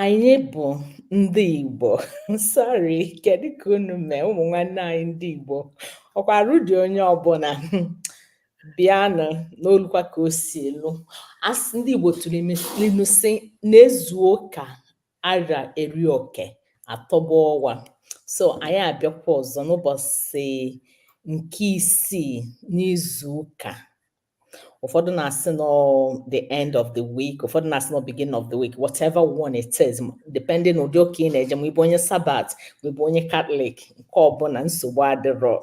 Anyị bụ ndị Igbo. Sorry, kedu ka unu mee ụmụ nwanne anyị ndị Igbo? Ọkwa arụ dị onye ọbụla. Bịanụ nọlụkwa ka o si elu. Asị ndị Igbo tụrụ ilu sị na ezuo ka ara eri oke atọgbọ ọwa. So anyị abịakwa ọzọ n'ụbọchị nke isii n'izu ụka. ụfọdụ na-asị na ọ the end of the week ụfọdụ na-asị na ọ beginning of the week whatever one it is depending ụdị ụka ị na-eje ma ị bụ onye sabat ma ị bụ onye katọlik nke ọbụla nsogbu adịrọ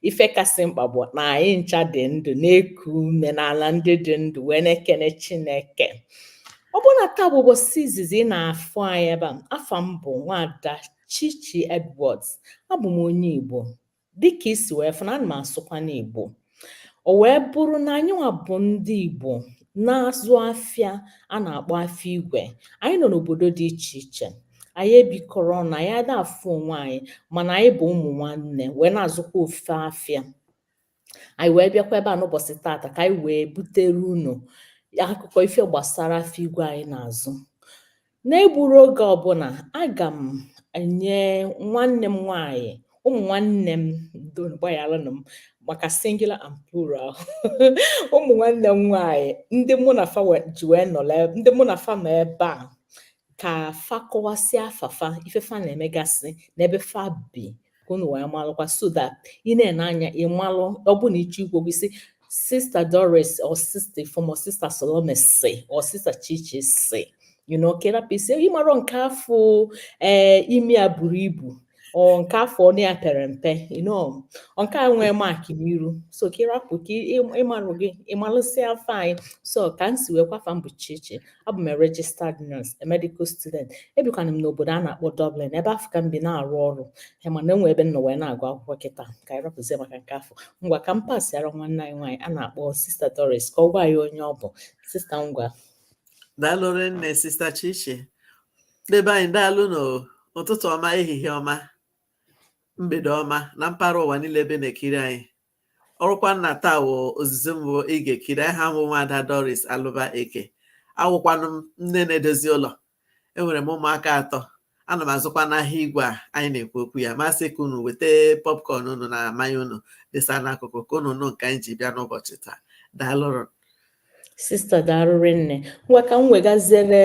ife kasị mkpa bụ na anyị ncha dị ndụ na-eku ume n'ala ndị dị ndụ wee na-ekene chineke ọ bụrụ na taa bụ ụbọchị izizi ị na-afụ anyị ebe a afa m bụ nwada chichi edwards abụ m onye igbo dịka i si wee fụ na ana m asụkwa n'Igbo o wee bụrụ na anyịnwa bụ ndị Igbo na-azụ afịa a na-akpọ afịa igwe anyị nọ n'obodo dị iche iche anyị ebikọrọ ọnụ anyị ada afụ onwe anyị mana anyị bụ ụmụ nwanne wee na-azụkwa ofu afịa anyị wee bịakwa ebe a n'ụbọchị tata ka anyị wee butere unu akụkọ ife gbasara afịa igwe anyị na-azụ N'egburo oge ọbụla, aga m enye nwanne m nwaanyị ụmụ nwanne m gbaghalụnụ m maka singular and plural ụmụ nwanne m nwaanyị ndị mụ na fa ji wee nọrọ ndị mụ na fa nọ ebe a ka fa kọwasịa afa fa ife fa na-emegasị n'ebe fa bi ka unu wee malụkwa so that ị na-ene anya ị malụ ọ bụ na ị chọọ ikwu okwu ị sị sista doris or sista ifeoma or sista salome sị or sista chichi sị you know ka ị rapụ ịsị ị marọ nke afụ ee eh, imi ya buru ibu or nke afụ ọnụ ya pere mpe you know nke a nwee mark n'iru so ka ị rapụ ka ị marụ gị ị malụsịa afa anyị so ka m si wee kwuo afa m bụ chichi abụ m registered nurse a medical student ebikwana m n'obodo a na-akpọ Dublin ebe afụ ka m bi na-arụ ọrụ ee mana enwe ebe m nọ wee na-agụ akwụkwọ kịta ka anyị rapụzie maka nke afụ ngwa ka m pasịara nwanne anyị nwaanyị a na-akpọ sista Doris ka ọ gwa anyị onye ọ bụ sista ngwa daalụ rinne sista Chichi ndị be anyị daalụnụ ụtụtụ ọma ehihie ọma mgbede ọma na mpaghara ụwa niile ebe na-ekiri anyị ọrụkwa na taa wụ izizi mbụ ị ga-ekiri aha m wụ nwaada Doris Alụba Eke awụkwanụ m nne na-edozi ụlọ enwere m ụmụaka atọ ana m azụkwa n'ahịa igwe a anyị na-ekwu okwu ya m asị ka unu weta popcorn unu na mmanya unu desa n'akụkụ ka unu nụ nke anyị ji bịa n'ụbọchị taa daalụnụ sista daalụ rinne ngwa ka m wegaziere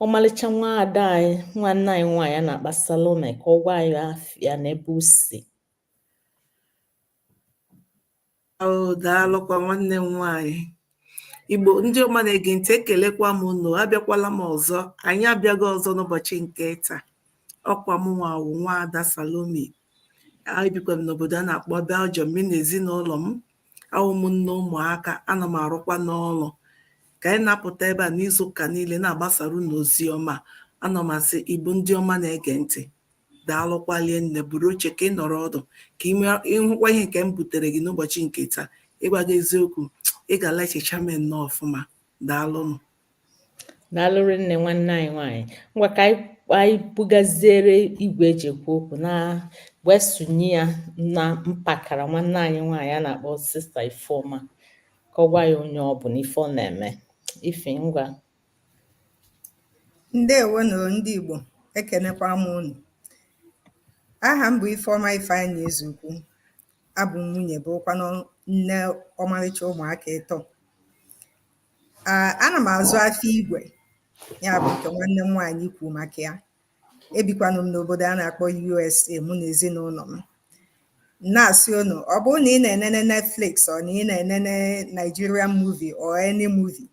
ọmalịcha nwa ada anyị nwanne anyị nwaanyị a na-akpọ Salome ka ọ gwa anyị afa ya na ebe o si Oh, daalụkwa nwanne m nwaanyị igbo ndị ọma na-ege ntị ekelekwa m unu abịakwala m ọzọ anyị abịago ọzọ n'ụbọchị nke taa ọkwa m nwa wụ nwa ada salomi ebikwa m n'obodo a na-akpọ belgium mi na ezinụlọ m awụ m nne ụmụaka ana m arụkwa n'ụlọ ka anyị na-apụta ebe a n'izu ụka niile na-agbasara unu ozi ọma ana m asị igbo ndị ọma na-ege ntị daalụkwa rinne buru oche ka ị nọrọ ọdụ ka ị hụkwa ihe nke m butere gị n'ụbọchị nke taa ịgwa gị eziokwu ị ga-ala echicha m nnọọ ọfụma daalụnụ daalụ rinne nwanne anyị nwaanyị ngwa ka anyị bugaziere igwe eji ekwu okwu na wee sụnye ya na mpakara nwanne anyị nwaanyị a na-akpọ sista ifeoma ka ọ gwa anyị onye ọ bụ na ife ọ na-eme ife ngwa Ndewo nụ o ndị Igbo, ekenekwa m unu. Aha m bụ Ifeọma Ifeanyị Ezeukwu. Abụ m nwunye bụrụkwanụ nne ọmarịcha ụmụaka ịtọ. Ah, ana m azụ afịa igwe, ya bụ nke nwanne m nwaanyị kwuru maka ya. Ebikwanụ m n'obodo a na-akpọ USA mụ na ezinụlọ m. na-asị unu ọ bụrụ na ị na-enene Netflix or na ị na-enene Nigerian movie or any movie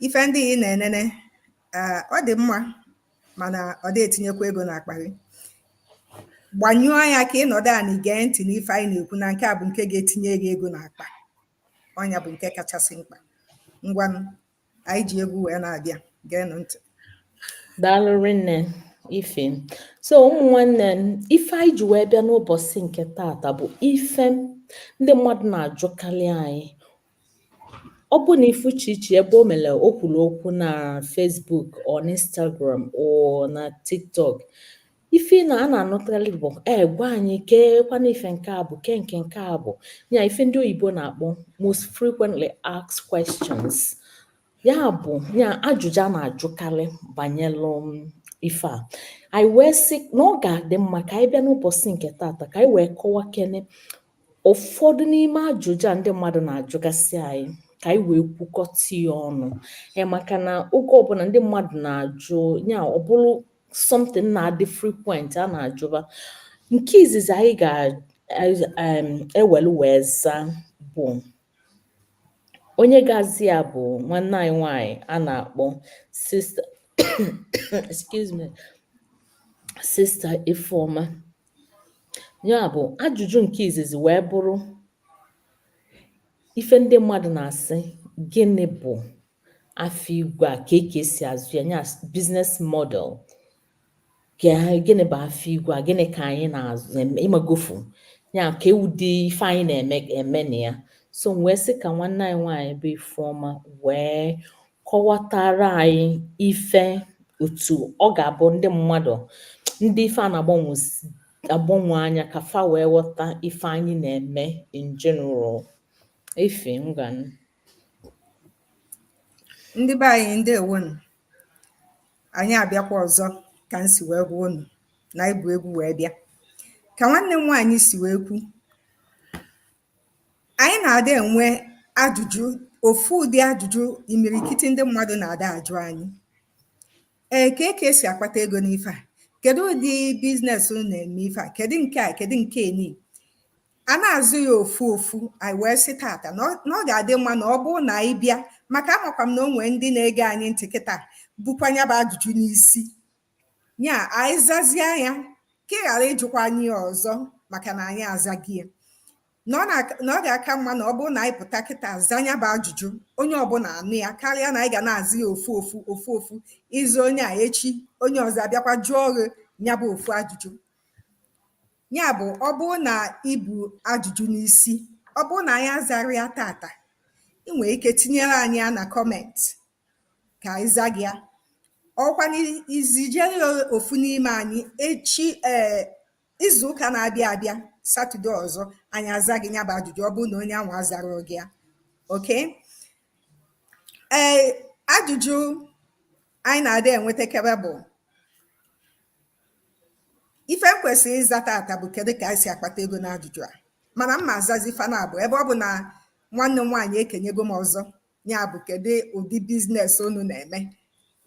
ife ndị ị na-enene eh, ọ dị mma mana ọ dị etinyekwa ego n'akpa gị gbanyụọ ya ka ị nọdụ anị gee ntị n'ife anyị na-ekwu na nke a bụ nke ga-etinye gị ego n'akpa ọ nya bụ nke kachasị mkpa ngwanụ anyị ji egwu wee na-abịa geenụ ntị daalụ rinne ife so ụmụ nwanne m ife anyị ji wee bịa n'ụbọchị nke tata bụ ife ndị mmadụ na-ajụkarị anyị Ọ bụ na ị fụ Chichi ebe o mere o kwuru okwu na Facebook or na Instagram or na TikTok ife na a na-anụtalị bụ e gwa anyị keekwanụ ife nke a bụ ke nke nke a bụ ya ife ndị oyibo na-akpọ most frequently asked questions Ya bụ ya ajụjụ a na-ajụkarị banyelụ ife a anyị wee sị na ọ ga-adị mma ka anyị bịa n'ụbọchị nke tata ka anyị wee kọwakene ụfọdụ n'ime ajụjụ a ndị mmadụ na-ajụgasị anyị ka anyị wee kwukọta ya ọnụ e, maka na oge ọbụla ndị mmadụ na-ajụ ya ọ bụrụ something na-adị frequent a na-ajụba nke izizi anyị ga-ewelu wee zaa bụ onye ga-aza ya bụ nwanne anyị nwanyị a na-akpọ sista excuse me sista Ifeoma ya bụ ajụjụ nke izizi wee bụrụ ife ndị mmadụ na-asị gịnị bụ afịa igwe a kee ka e si azụ ya nya business model gịnị bụ afịa igwe a gịnị ka anyị na-azụ ịmagofu ya ka ụdị ife anyị na-eme na ya so m wee sị ka nwanne anyị nwaanyị bụ Ifeọma wee kọwatara anyị ife otu ọ ga-abụ ndị mmadụ ndị ife a na-agbanwe anya ka fa wee ghọta ife anyị na-eme in general ife ngwanụ ndị be anyị ndewonu anyị abịakwa ọzọ ka m si wee gwa unu na anyị bu egwu wee bịa ka nwanne m nwaanyị si wee kwu anyị na-adị enwe ajụjụ ofu ụdị ajụjụ imirikiti ndị mmadụ na-ada ajụ anyị ee kee ka e si akpata ego n'ife a kedu ụdị biznes unu na-eme ife a kedu nke a kedu nke ni a na-aza ya ofu ofu anyị wee sị tata na ọ- na ọ ga-adị mma na ọ bụrụ na anyị bịa maka amakwa m na o nwee ndị na-ege anyị ntị kịta bukwa ya bụ ajụjụ n'isi ya anyị zazie ya ka ị ghara ịjụkwa anyị ya ọzọ maka na anyị azago ya na ọ na- na ọ ga-aka mma na ọ bụrụ na anyị pụta kịta za ya bụ ajụjụ onye ọbụla anụ ya karịa na anyị ga na-aza ya ofu ofu ofu ofu ị za onye a echi onye ọzọ abịakwa jụọ gị ya bụ ofu ajụjụ ya bụ ọ bụrụ na i bu ajụjụ n'isi ọ bụrụ na anyị azarọ ya tata ị nwere ike tinyere anyị ya na kọmentị ka anyị za gị ya ọkwa i zijere ofu n'ime anyị echi ee eh, izu ụka na-abịa abịa satọde ọzọ anyị aza gị ya bụ ajụjụ ọ bụrụ na onye ahụ azarọ gị ya oke ee eh, ajụjụ anyị na-adị enwetakebe bụ ife m kwesịrị ịza tata bụ kedu ka anyị si akpata ego n'ajụjụ a mana m ma-azazi fa n'abụọ ebe ọ bụ na nwanne m nwaanyị ekenyego m ọzọ ya bụ kedu ụdị biznes unu na-eme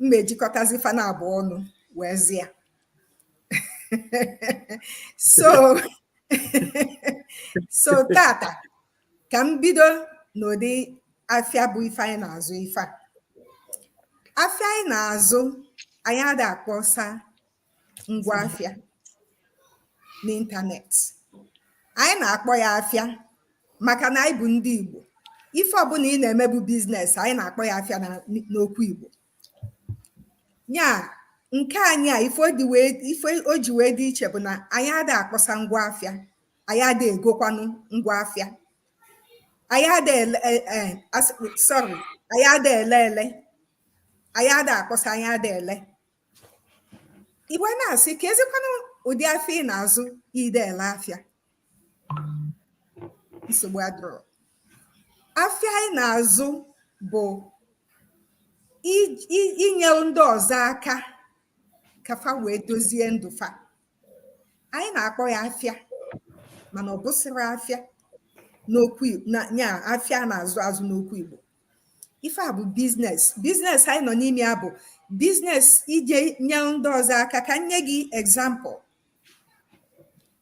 m ma-ejikọtazi fa n'abụọ ọnụ wee za ya so so tata ka m bido n'ụdị afịa bụ ife anyị na-azụ ife a afịa anyị na-azụ anyị ada akpọsa ngwa afịa n'ịntanetị anyị na-akpọ ya afịa maka na anyị bụ ndị Igbo ife ọbụla ị na-eme bụ biznes anyị na-akpọ ya afịa n'okwu Igbo ya nke anyị a ife o ji wee dị iche bụ na anyị ada akpọsa ngwa afịa anyị ada egokwanụ ngwa afịa anyị ada ele e, e, sọrị anyị ada ele ele anyị ada akpọsa anyị ada ele i wee na-asị keezikwanụ ụdị afịa ị na-azụ ị da ele afịa nsogbu adịrọ afịa anyị na-azụ bụ inyere ndị ọzọ aka ka fa wee dozie ndụ fa anyị na-akpọ ya afịa mana ọ bụsịrọ afịa n'okwu ya afịa na-azụ azụ n'okwu Igbo ife a bụ business business anyị nọ n'ime ya bụ business ije nye ndị ọzọ aka ka m nye gị example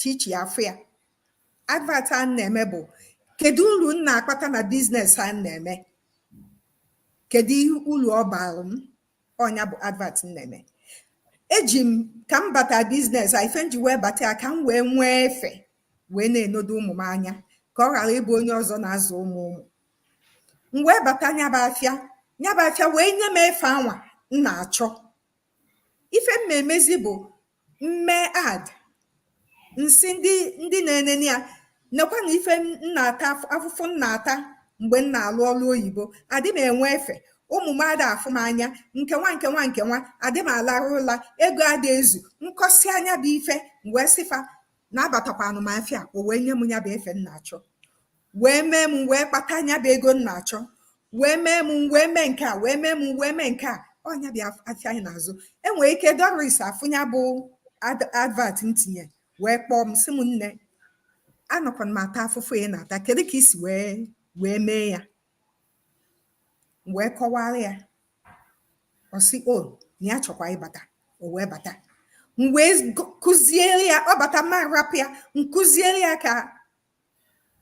Chichi afụ ya advert a m na-eme bụ kedu uru m na-akpata na business a m na-eme kedu uru ọ baara m ọ nya bụ advert m na-eme eji m ka m bata business a ife m ji wee bata ya ka m wee nwee efe wee na-enodo ụmụ m anya ka ọ ghara ịbụ onye ọzọ na-azụ ụmụ ụmụ m wee bata nya bụ afịa nya bụ afịa wee nye m efe anwa m na-achọ ife m na-emezi bụ M mee ad m sị ndị ndị na-enene ya, nekwa na ife m na-ata afụfụ m na-ata mgbe m na-alụ ọlụ oyibo, adị m enwe efe, ụmụ m ada afụ m anya, nke nwa nke nwa nke nwa, adị m alarụ ụla, ego ada ezu, m kọsịa nya bụ ife, m wee sị fa na abatakwanụ m afịa, o wee nye m nya bụ efe m na-achọ. wee mee m wee kpata nya bụ ego m na-achọ wee mee m wee mee nke a wee mee m wee mee nke a ọ nya bụ afịa anyị na-azụ enwere ike Doris afụ nya bụ advert m tinye wee kpọọ m sị m nne anọkwa m ata afụfụ ị na-ata kedu ka i si wee wee mee ya wee kọwara ya ọ sị o, na ya chọkwa ịbata o wee bata m wee kụziere ya ọ bata m ma rapụ ya m kụziere ya ka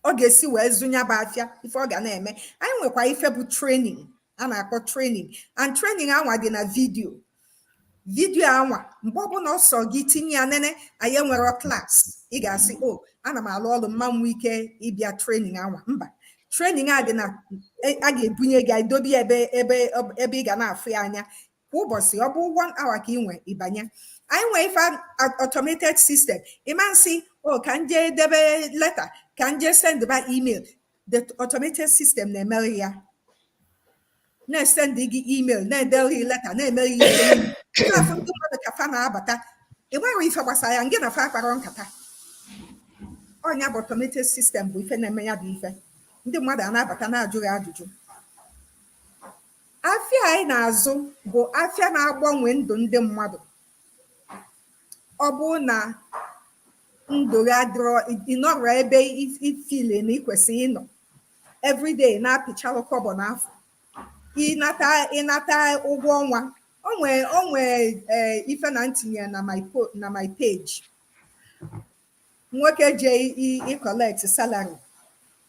ọ ga-esi wee zụ nya bụ afịa ife ọ ga na-eme anyị nwekwa ife bụ training a na-akpọ training and training anwa dị na video video anwa mgbe ọbụla ọ sọ gị tinye ya nene anyị enwerọ class ị ga-asị o oh, ana m alụ ọrụ m ma nwe ike ịbịa training anwa mba training a dị na e, a ga-ebunye gị edobe ebe ebe ebe ị ga na-afụ ya anya kwa ụbọchị ọ bụ one hour ka i nwe ị banye anyị nwee ife automated system ị ma sị o ka m jee debe leta ka m jee send ba email the automated system na-emere ya na-esend gị email na-edere gị leta na-emere gị ihe na-afụ ndị mmadụ ka fa na-abata i nwerọ ife gbasara ya ngị na fa akparọ nkata ọ nya bụ automated system bụ ife na-eme ya bụ ife ndị mmadụ ana-abata na-ajụ gị ajụjụ Afịa anyị na-azụ bụ afịa na-agbanwe ndụ ndị mmadụ. Ọ bụrụ na ndụ gị adịrọ ị nọrọ ebe i i feel na ị kwesịrị ịnọ every day na-apịchalụ kọbọ n'afọ ịnata ịnata ụgwọ ọnwa o nwee o nwee ee ife na m tinye na my po na my page nwoke je ịkọlekt salari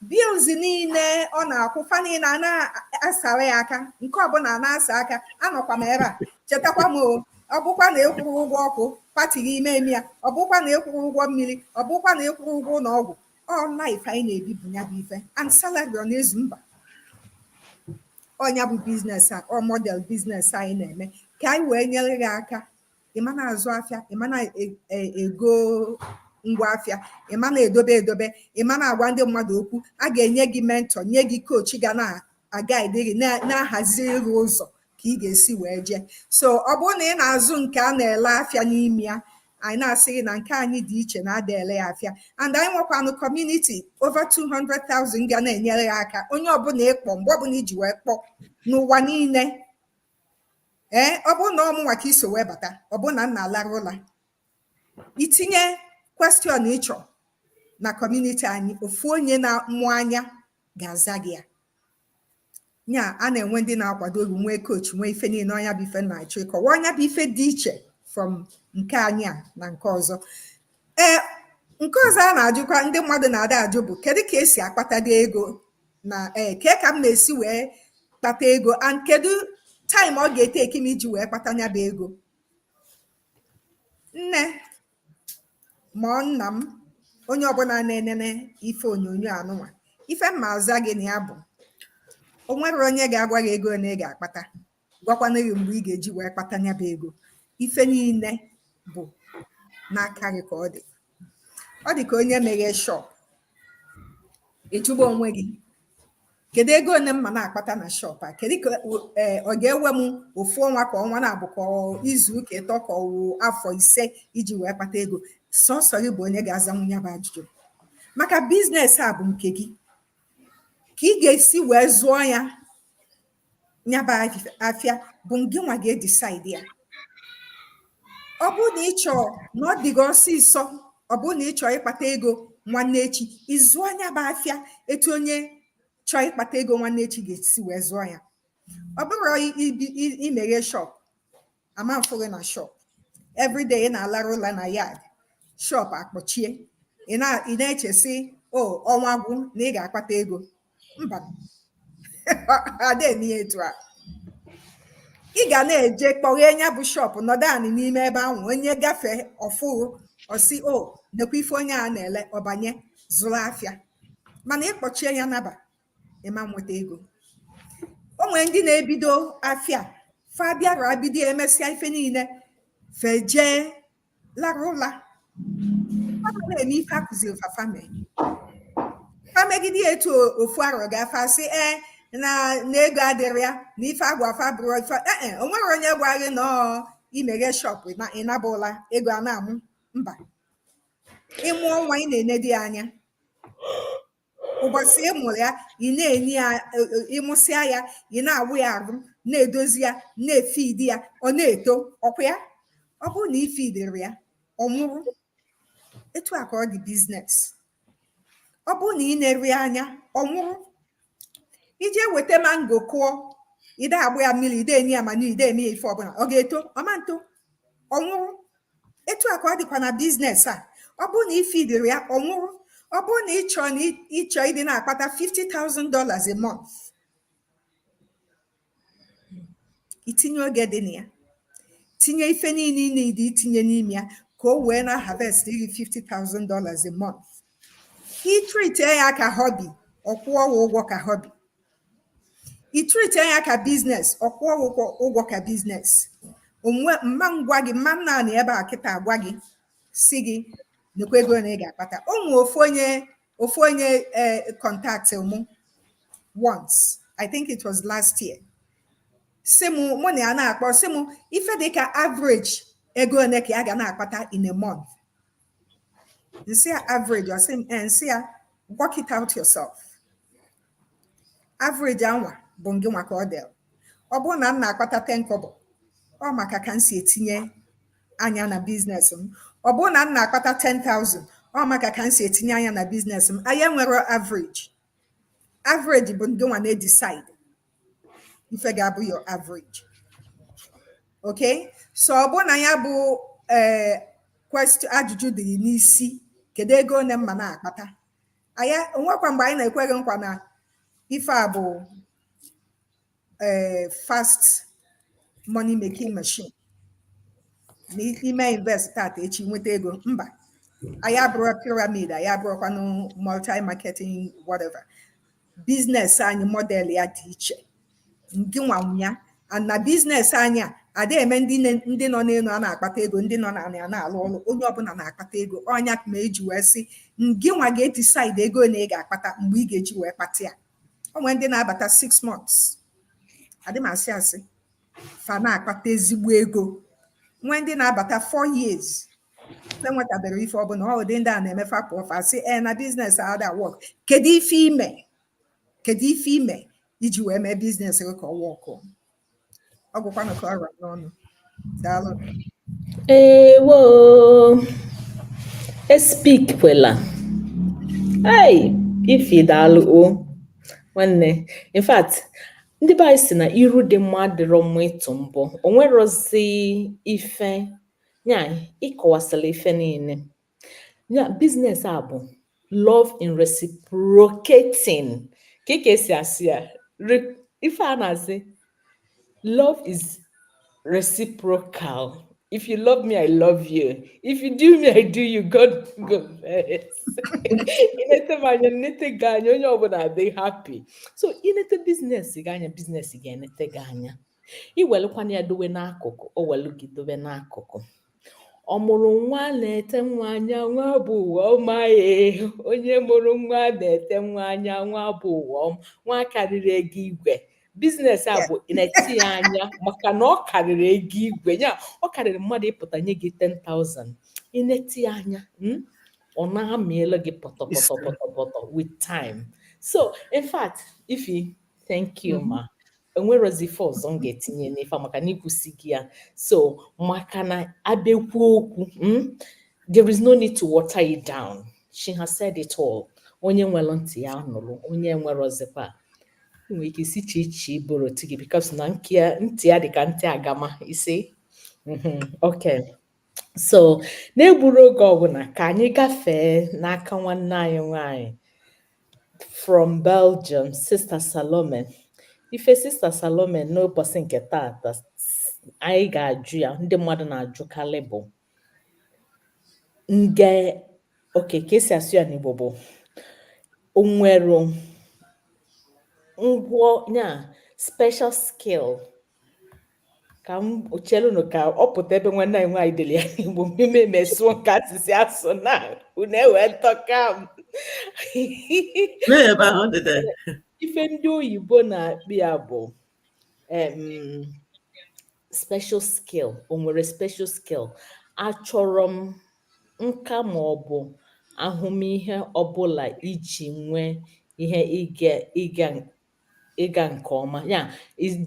bills niile ọ na-akwụ fa niile a na-asara ya aka nke ọbụla na-asa aka anọkwa m ebe a chetakwa m o ọ bụkwa na ịkwụrụ ụgwọ ọkụ pati gị ime eme ya ọ bụkwa na ịkwụrụ ụgwọ mmiri ọ bụkwa na ịkwụrụ ụgwọ ụlọ ọgwụ ọ life anyị na-ebi bụ ya bụ ife and salary ọ na-ezu mba ọ nya bụ biznes a ọ model biznes anyị na-eme ka anyị wee nyere gị aka ị ma na-azụ afịa ị ma na-ego e, ngwa afịa ị ma na-edobe edobe ị ma na-agwa ndị mmadụ okwu a ga-enye gị mentọ nye gị kochi ga na-agaịdị gị na-ahaziri gị ụzọ ka ị ga-esi wee jee so ọ bụrụ na ị na-azụ nke a na-ele afịa n'ime ya anyị na-asị gị na nke anyị dị iche na ada ele ya afịa and anyị nwekwanụ kọmuniti over 200,000 ga na-enyere ya aka onye ọbụla ị kpọ mgbe ọbụla i ji wee kpọọ n'ụwa niile ee ọ bụrụ na ọ mụnwa ka i so wee bata ọ bụrụ na m na-alarụ ụla i tinye kwestion ị chọ na kọmuniti anyị ofu onye na-amụ anya ga-aza gị ya nya a na-enwe ndị na-akwado ọlụ nwee kochi nwee ife niile ọ nya bụ ife m na-achọ ịkọwa ọ nya bụ ife dị iche from nke anyị a na nke ọzọ Ee, nke ọzọ a na-ajụkwa ndị mmadụ na-ada ajụ bụ kedu ka e si akpatadị ego na ee kee ka m na-esi wee kpata ego and kedu taịm ọ ga-eteki m iji wee kpata nya bụ ego nne ma ọ nna m onye ọbụla na-enene ife onyonyo anụnwa ife m ma-aza gị na ya bụ o nwerọ onye ga-agwa gị ego ole ị ga-akpata gwakwana gị mgbe ị ga-eji wee kpata nya bụ ego ife niile bụ n'aka gị ka ọ dị ọ dị ka onye meghe shọp ị jụba onwe gị kedu ego one m ma na-akpata na shọp a kedu ka e, ọ ga-ewe m ofu ọnwa ka ọnwa naabọ ka izu ụka ịtọ ka ọ afọ ise iji wee kpata ego sọsọ gị bụ onye ga-azanwu nya bụ ajụjụ maka biznes a bụ nke gị ka ị ga-esi wee zụọ ya nya bụ afịa bụ gị nwa ga-edisaidi ya ọ bụrụ na ị chọọ na ọ dị gị ọsịsọ ọ bụrụ na ị chọọ ịkpata ego nwanne echi ị zụọ nya bụ afịa etu onye chọọ ịkpata ego nwanne echi ga-esi wee zụọ ya ọ bụrụ i meghe shọpụ a ma na-afụ gị na shop everyday ị na-alarụ ụla na yard shop akpọchie ị na- ị na-eche sị o ọnwa gwụ na ị ga-akpata ego mba ada eme ya etu a ị ga na-eje kpọghee nya bụ shop nọdụ anị n'ime ebe ahụ onye gafee ọ fụ ọ sị o nekwa ife onye a na-ele ọ banye zụrụ afịa mana ị kpọchie ya naba ịma nweta ego o nwere ndị na-ebido afịa fa bịara ebido emesịa ife niile fa ejee lara ụla na-eme ife a kụziri fa fa mee fa emegide ya etu ofu arọ gaa fa asị ee na na ego adịrị ya na ife a gwara fa abụrụ ife ee o nwere onye gwa gị na ọ imeghe shop ị naba ụla ego a na-amụ mba ịmụọ nwa ị na-enedo ya anya ụbọchị ị mụrụ ya ị na-enye ya e, e, ịmụsịa ya ị na-awụ ya arụ na-edozi ya na-efidi ya ọ na-eto ọkwa ya ọ bụrụ na ifidiri ya ọ nwụrụ etu a ka ọ dị biznes ọ bụrụ na i neri ya anya ọ mụrụ i jee weta mango kụọ ide agba ya mmiri ide enye ya manure ide eme ya ife ọbụla ọ ga-eto ọ ma nto ọ nwụrụ etu a ka ọ dịkwa na biznes a ọ bụrụ na ị fidiri ya ọ nwụrụ ọ bụrụ na ịchọ na ịchọ ịdị na-akpata 50,000 dollars a month itinye oge dị na ya tinye ife niile ị need itinye n'ime ya ka o wee na-harvestiri 50,000 dollars a month itrite ya ka họbi ọ kwụọ ụgwọ ka họbi itrite ya ka biznes ọ kwụọ ụgwọ ụgwọ ka biznes ee m ma ngwa gị m ma nnọ n'ebe a kịta agwa gị sị gị nekwa ego one ị ga-akpata o nwee ofu onye ofu onye kọntaktị mụ once i think it was last year sị mụ mụ na ya na-akpọ sị mụ ife dịka average ego one ka ya ga na-akpata in a month nsị ya average ọ sị m eh, nsị ya work it out yourself average anwa bụ ngị nwa ka ọ dịrị ọ bụrụ na m na-akpata 10 kobo ọ maka ka m si etinye anya na biznes m ọ bụrụ na m na-akpata 10,000 ọ maka ka m si etinye anya na biznes m anyị enwere average average bụ ngị nwa na-edecide ife ga-abụ your average okay so ọ bụrụ na ya bụ ee eh, ajụjụ dị gị n'isi kedu ego one m ma na-akpata anyị o nwekwa mgbe anyị na-ekwe gị nkwa na ife a bụ ee fast money making machine na ime invest tata echi nweta ego mba anyị abụrụ pyramid anyị abụrụkwanụ multi marketing whatever biznes anyị model ya dị iche ngị nwa nwe ya na biznes anyị a ada eme ndị ndị nọ n'elu a na-akpata ego ndị nọ n'ala ya na-alụ ọrụ onye ọbụla na-akpata ego ọ nya ma eji wee sị ngị nwa ga-decide ego one ị ga-akpata mgbe ị ga-eji wee kpata ya o nwere ndị na-abata six months adị m asị asị fa na-akpata ezigbo ego nwee ndị na-abata four years enwetabere ife ọbụla ụdị ndị a na-eme fa pụọ fa sị e na biznes ada work kedu ife ime kedu ife ime iji wee mee biznes gị ka ọ work ọ gwụkwanụ ka ọ ra m n'ọnụ daalụ ewo e speak kwela ei Ify daalụ o nwanne in fact ndị be anyị si na iru dị mma adịrọ mma ịtụ mbọ o nwerozi ife nya ị kọwasịla ife niile ya biznes a bụ love in reciprocating ka ị ka esi asị ya ife a na-asị love is reciprocal if you love me i love you if you do me i do you God no go vex i nete m anya m nete gị anya onye ọbụla adị happy so i nete biznes gị anya biznes gị enete gị anya i welukwanụ ya dowe n'akụkụ o welu gị dowe n'akụkụ ọ mụrụ nwa nete nwa anya nwa bụ ụwa ọma ee onye mụrụ nwa nete nwa anya nwa bụ ụwa ọma nwa karịrị ego igwe biznes a bụ nete ya anya maka na ọ karịrị ego igwe ya ọ karịrị mmadụ ịpụta nye gị 10,000 i nete ya anya hmm? ọ na-amịala gị pọtọpọtọpọtọpọtọ with time so in fact Ify thank you mm-hmm. ma enwerozi ife ọzọ m ga-etinye n'ife a maka na i kwusigo ya so maka na a bịa kwuo okwu mm, there is no need to water it down she has said it all onye nwere ntị ya nụrụ onye enwerozikwa i nwere ike ịsị Chichi borrow ntị gị because na nke ya- ntị ya dị ka ntị agama isi Mhm, okay so n'egburo oge ọbụla ka anyị gafee n'aka nwanne anyị nwanyị from Belgium sista Salome ife sista Salome n'ụbọchị nke taata anyị ga-ajụ ya ndị mmadụ na-ajụkarị bụ nke okay ka esi asụ ya n'Igbo bụ o nwere ngwọ ya special skill ka m chelụnụ ka ọ pụta ebe nwanne anyị nwaanyị dere ya n'igbo mmemme mesụọ nke asịsị asụ na unu ewee ntọka m ife ndị oyibo na-akpọ ya bụ special skill o nwere special skill achọrọ m nka ma ọ bụ ahụmịhe ọbụla iji nwee ihe ịga ịga nke ọma ya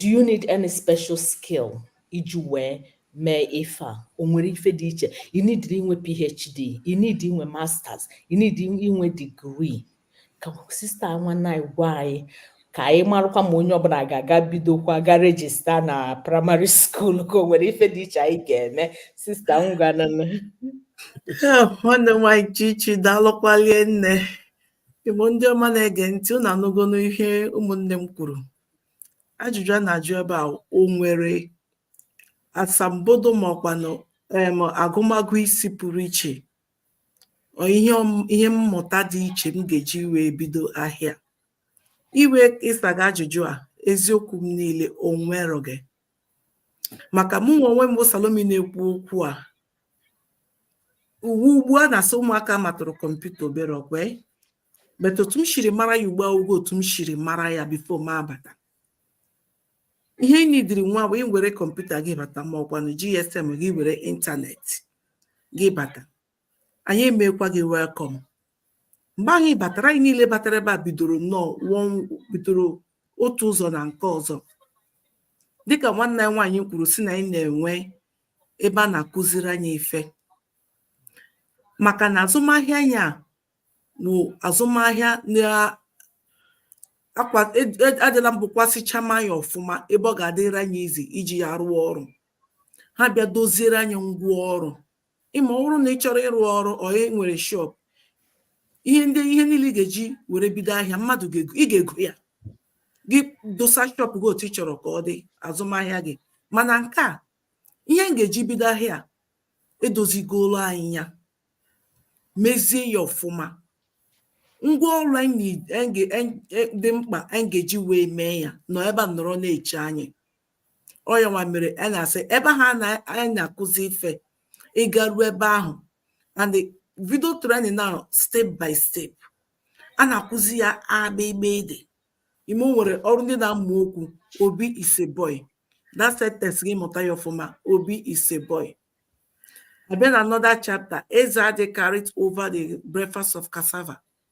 do you need any special skill iji wee mee ife a o nwere ife dị iche you need inwe phd you need inwe masters you need inwe degree ka sista nwanne anyị gwa anyị ka anyị marụkwa ma onye ọbụla ga-aga bidokwa ga rejista na praịmarị skuul ka o nwere ife dị iche anyị ga-eme sista ngwanụ nwanne m nwaanyị chichi daalụkwalie nne Igbo ndị ọma na-ege ntị unu anụgonụ ihe ụmụnne m kwuru ajụjụ a na-ajụ ebe a o nwere asambodo ma ọkwanụ em agụmagụ isi pụrụ iche ọ ihe ọm- ihe mmụta dị iche m ga-eji wee bido ahịa iwe ịsa gị ajụjụ a eziokwu m niile o nwerọghị maka mụnwa onwe m bụ Salomi na-ekwu okwu a uwe ugbu a na-asị ụmụaka matụrụ kọmputa obere ọkwe bet otu m shiri mara ya ugbu a awụghị otu m shiri mara ya bifo m abata ihe ị nidiri nwa bụ iwere kọmputa gị bata ma ọkwanụ GSM gị were ịntanetị gị bata anyị emekwa gị welkọm mgbe anyị batara anyị niile batara ebe a bidoro nnọọ bidoro otu ụzọ na nke ọzọ dịka nwanne anyị nwaanyị kwuru sị na anyị na-enwe ebe a na-akụziri anyị ife maka na azụmahịa anyị a bụ azụmahịa adịla mbụ kwasịchama ya ọfụma ebe ọ ga-adịrị anyị easy iji ya rụọ ọrụ ha bịa doziere anyị ngwa ọrụ ịma ọ bụrụ na ị chọrọ ịrụ ọrụ ọ e nwere shop ihe ndị ihe niile ị ga-eji were bido ahịa mmadụ ị ga-ego ya gị dosa shop gị otu ị chọrọ ka ọ dị azụmahịa gị mana nke a ihe m ga-eji bido ahịa edozigolo anyị ya mezie ya ọfụma ngwa ọrụ anyị e, e, dị mkpa anyị ga-eji wee mee ya nọ ebe a nọrọ na-eche anyị ọ ya nwa mere a na-asị ebe ha na anyị na-akụzi ife ịga ruo ebe ahụ and the video training now step by step a na-akụzi ya a bị gbị dị ịma o nwere ọrụ ndị na-amụ okwu obi is a boy that sentence gị mụta ya ọfụma obi is a boy a bịa na another chapter eze adi carried over the breakfast of cassava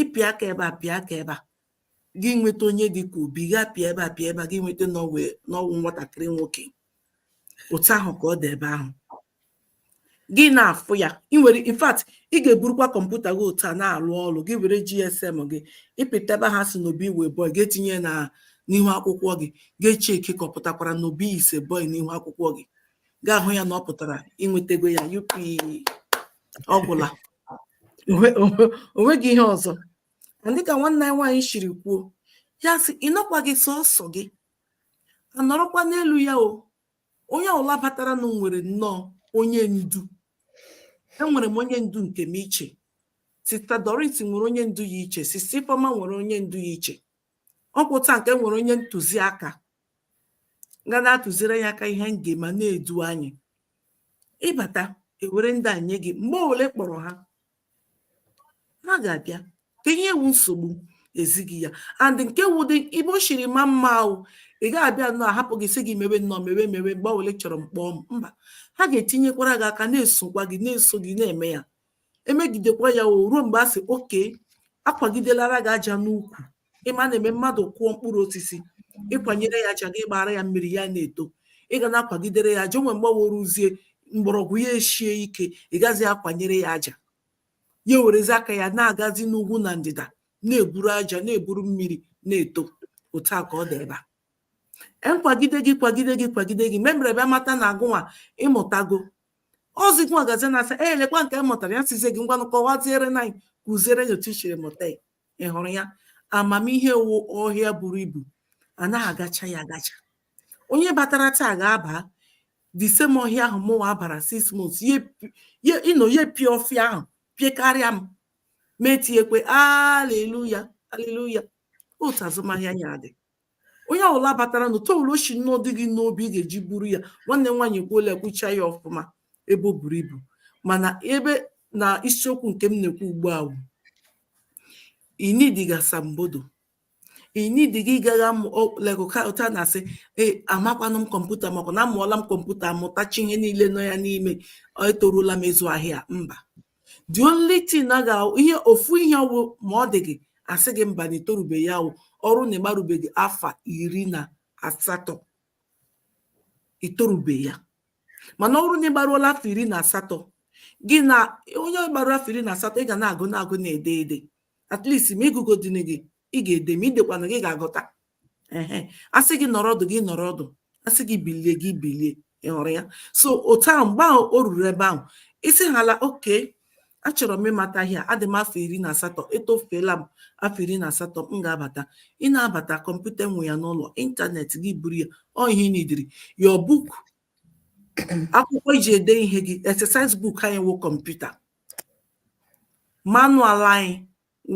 ịpịa aka ebe a pịa aka ebe a gị nweta onye dị ka obi gị apịa ebe a pịa ebe a gị nweta na ọ wụ na ọ wụ nwatakịrị nwoke otu ahụ ka ọ dị ebe ahụ gị na-afụ ya ị nwere in fact ị ga-eburukwa kọmputa gị otu a na-arụ ọrụ gị were GSM gị ịpịta ebe ha si na obi wụ boy ga-etinye na n'ihu akwụkwọ gị ga-echeki ka ọ pụtakwara na obi is a boy n'ihu akwụkwọ gị ga-ahụ ya na ọ pụtara i nwetego ya yupi ọ gwụla onweghị ihe ọzọ dịka nwanne anyị nwaanyị shiri kwuo ya sị ị nọkwa gị sọsọ gị anọrọkwa n'elu ya o onye ọwụla bataranụ nwere nnọọ onye ndu enwere m onye ndu nke m iche sista doris nwere onye ndu ya iche sista ifeoma nwere onye ndu ya iche ọ bụ otu a ka e nwere onye ntụziaka ga na-atụziri anyị aka ihe m ga-eme na-edu anyị ịbata ewere ndị a nye gị mgbe ọwụla ị kpọrọ ha ha ga-abịa ka ihe wụ nsogbu ezi gị ya and nke wụdị ebe o shiri maa mma wụ ị gaghị abịanụ ahapụ gị sị gị mewe nnọọ mewe mewe mgbe ọwụla ị chọrọ m kpọọ m mba ha ga-etinyekwara gị aka na-esokwa gị na-eso gị na-eme ya emegidekwa ya o ruo mgbe a sị okay akwagidelara gị aja n'ukwu ịma na-eme mmadụ kụọ mkpụrụ osisi ịkwanyere ya aja gị gbara ya mmiri ya na-eto ị ga na-akwagidere ya aja o nwee mgbe o ruzie mgbọrọgwụ ya eshie ike ị gazi akwanyere ya aja ya werezi aka ya na-agazi n'ugwu na ndịda na-eburu aja na-eburu mmiri na-eto otu a ka ọ dị ebe a akwagide gị kwagide gị kwagide gị memere ebe amata na gịnwa ịmụtago ọzi gịnwa gazi na-asị e lekwa nke m mụtara ya sịzie gị ngwanụ kọwaziere na anyị kụziere anyị otu i shiri mụta ya ị hụrụ ya amamihe wụ ọhịa buru ibu anaghị agacha ya agacha onye batara taa ga-aba the same ọhịa ahụ mụnwa bara six months ịnọ ya pịa ọfịa ahụ pịekarịa m m etiekwe aleluya aleluya otu azụmahịa ya dị onye ọwụla bataranụ otu ọwụla o shi nnọọ dị gị n'obi ị ga-eji buru ya nwanne nwaanyị kwuola ekwucha ya ọfụma ebe o buru ibu mana ebe na isiokwu nke m na-ekwu ugbu a wụ i nidighị asambodo i nidighị ịgaghị amụ lekọta na-asị ee amakwanụ m kọmputa makwa na amụọla m kọmputa amụtacha ihe niile nọ ya n'ime etorula m ịzụ ahịa mba the only thing na ga ihe ofu ihe ọwụ ma ọ dị gị asị gị mba na itorube ya wụ ọrụ na ịgbarubeghị afọ iri na asatọ itorube ya mana ọrụ na ịgbaruola afọ iri na asatọ gị na onye gbara afọ iri na asatọ ị ga na-agụ na-agụ na-ede ede at least ma ịgụgodighị ị ga-ede ma idekwanaghị ị ga-aghọta ehe asị gị nọrọ ọdụ gị nọrọ ọdụ asị gị bilie gị bilie ị hụrụ ya so otu ahụ mgbe ahụ o ruru ebe ahụ isi hala okay achọrọ m ịmata ihe a adị m afọ iri na asatọ etofeela m afọ iri na asatọ m ga-abata ị na-abata kọmputa nwe ya n'ụlọ ịntanetị gị buru ya ọ ihe ị nidiri your book akwụkwọ iji ede ihe gị exercise book anyị wụ kọmputa manual anyị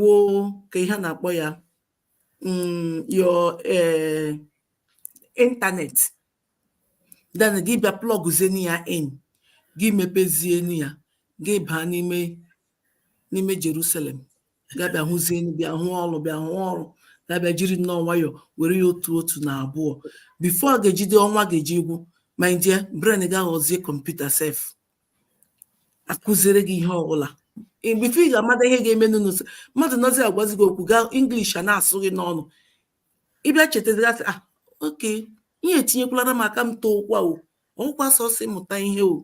wụ ka ihe na-akpọ ya um your uh, internet then gị bịa plọgụzienu ya in gị mepezienu ya gị baa n'ime n'ime Jerusalem gị abịa hụzienu bịa hụ ọrụ bịa hụ ọrụ gị abịa jiri nnọọ nwayọ were ya otu otu na abụọ before ga-ejide ọnwa ga-eji agwụ my dear brain gị aghọzie computer sef akụziere gị ihe ọbụla before ị ga-amata ihe ga-emenụ o mmadụ nọzi agwazi gị okwu gaa English a na-asụ gị n'ọnụ ị bịa chetazigasị ah okay ihe etinyekwala m aka m too ụkwa o ọ wụkwa sọsọ mụta ihe o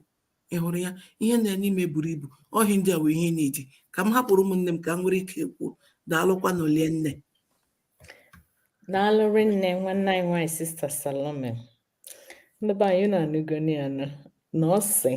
ị hụrụ ya ihe nọ n'ime buru ibu ọ ihe ndị a bụ ihe na-eji ka m hapụrụ ụmụnne m ka m nwere ike kwuo daalụkwanụ o rinne daalụ rinne nwanne anyị nwaanyị sister Salome ndị be anyị unu anụgoni ya nụ na ọ sị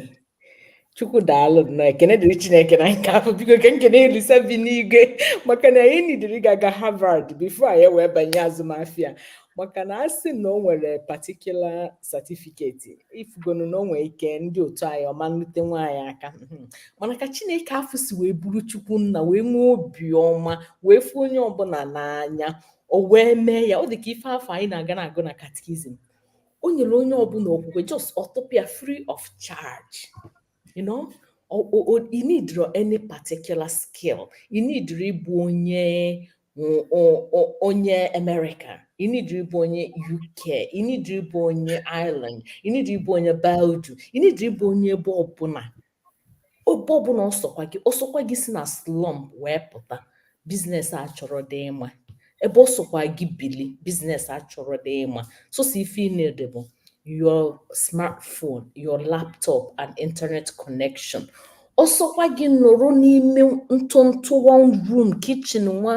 chukwu daalụ na ekene dịrị chineke na nke afụ biko ka m kenee Olisa bi n'igwe maka na anyị needirọ ịga gaa Harvard before anyị wee banye azụmafịa maka na a sị na o nwere particular certificate ị fụgonụ na o nwee ike ndị otu anyị ọ ma elutenwu anyị aka mhm. mana ka chineke afụ si wee buru chukwu nna wee nwee obiọma wee fụ onye ọbụla n'anya o wee mee ya ọ dị ka ife afụ anyị na-aga na-agụ na katikizim o nyere onye ọbụla okwukwe just ọ tụpụ ya free of charge you know ị needirọ any particular skill ị needirọ ịbụ onye onye America ị needirọ ịbụ onye UK ị needirọ ịbụ onye Ireland ị needirọ ịbụ onye Belgium ị needirọ ịbụ onye ebe ọbụla ebe ọ bụla ọ sọkwa gị ọ sọkwa gị si na slum wee pụta business achọrọdị ịma ebe ọ sọkwa gị bili business achọrọdị ịma sọsọ ife ị needi bụ your smartphone your laptop and internet connection ọ sọkwa gị nọrọ n'ime ntụntụ one room kitchen nwa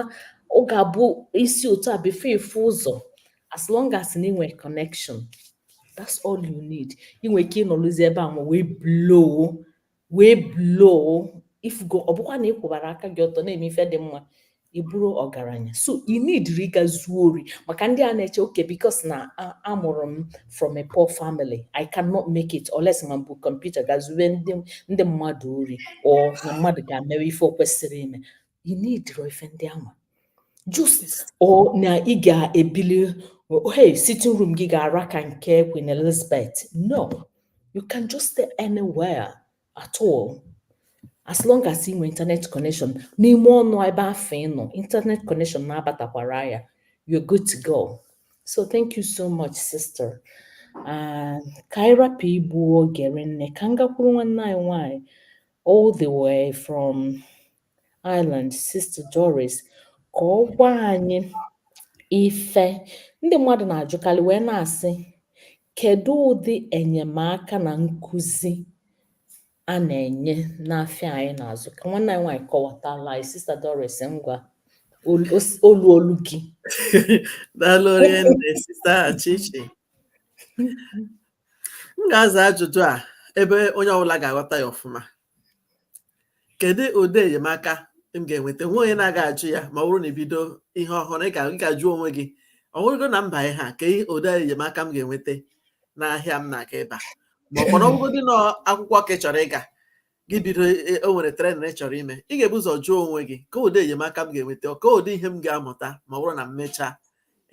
ọ ga-abụ i si otu a before ị fụ ụzọ as long as na i nwee connection that's all you need ị nwere ike ịnọrụzi ebe ahụ wee blow wee blow ị fụgo ọ bụkwa na ị kwụbara aka gị ọtọ na-eme ife dị mma ị bụrụ ọgaranya so ị needirọ ịga zuo ori maka ndị a na-eche okay because na amụrụ m from a poor family i cannot make it unless ma m bu computer gaa zube ndị mmadụ ori or na mmadụ ga-emewe ife o kwesịrị ime ị needirọ ife ndị ahụ just or na ị ga-ebili hey sitting room gị ga-ara ka nke Queen Elizabeth no you can just stay anywhere at all as long as ị nwee internet connection n'ime ọnụ ebe afụ ị nọ internet connection na-abatakwara ya you're good to go so thank you so much sister Ah, ka anyị rapụ igbu oge rinne ka m gakwuru nwanne anyị nwanyị all the way from Ireland Sister Doris ka ọ gwa anyị ife ndị mmadụ na-ajụkarị wee na-asị kedu ụdị enyemaka na nkụzi a na-enye n'afịa anyị na-azụ ka nwanne anyị nwaanyị kọwatala anyị Sister Doris ngwa olu olu gị daalụ rinne Sister Chichi m ga-aza ajụjụ a ebe onye ọbụla ga-aghọta ya ọfụma kedu ụdị enyemaka m ga-enweta nwe onye na-aga ajụ ya ma ọ bụrụ na ị bido ihe ọhụrụ ị ga-ajụ onwe gị ọ bụrụgo na m ba ihe a kee ụdị enyemaka m ga-enweta n'ahịa m na-aga ịba maka na ọ wụrụgodị na akwụkwọ ka ị chọrọ ịga gị bido e, e, o nwere training ị chọrọ ime ị ga-ebu ụzọ jụọ onwe gị kee ụdị enyemaka m ga-enweta kee ụdị ihe m ga-amụta ma ọ bụrụ na m mechaa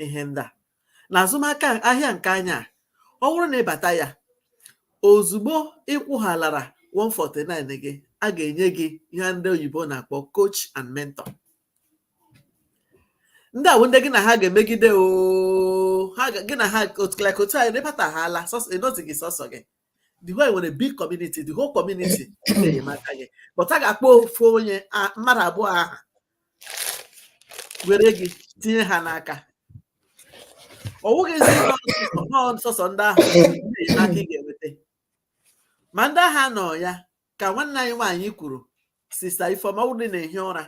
ihe ndị a na azụmaka ahịa nke anyị a ọ bụrụ na ị bata ya ozugbo ị kwụghalara 149 gị a ga-enye gị ihe ndị oyibo na-akpọ coach and mentor ndị a wụ ndị gị na ha ga-emegide o ha gị na ha otu anyị ị batahaala ị nọzighị sọsọ gị though e nwere big community the whole community na-enyemaka gị but a ga-akpọ ofu onye mmadụ abụọ ahụ were gị tinye ha n'aka ọ wụghịzi sọsọ ndị ahụ enyemaka ị ga-enweta ma ndị ahụ nọ ya ka nwanne anyị nwaanyị kwuru sista ifeoma ọ bụrụ na-ehi ụra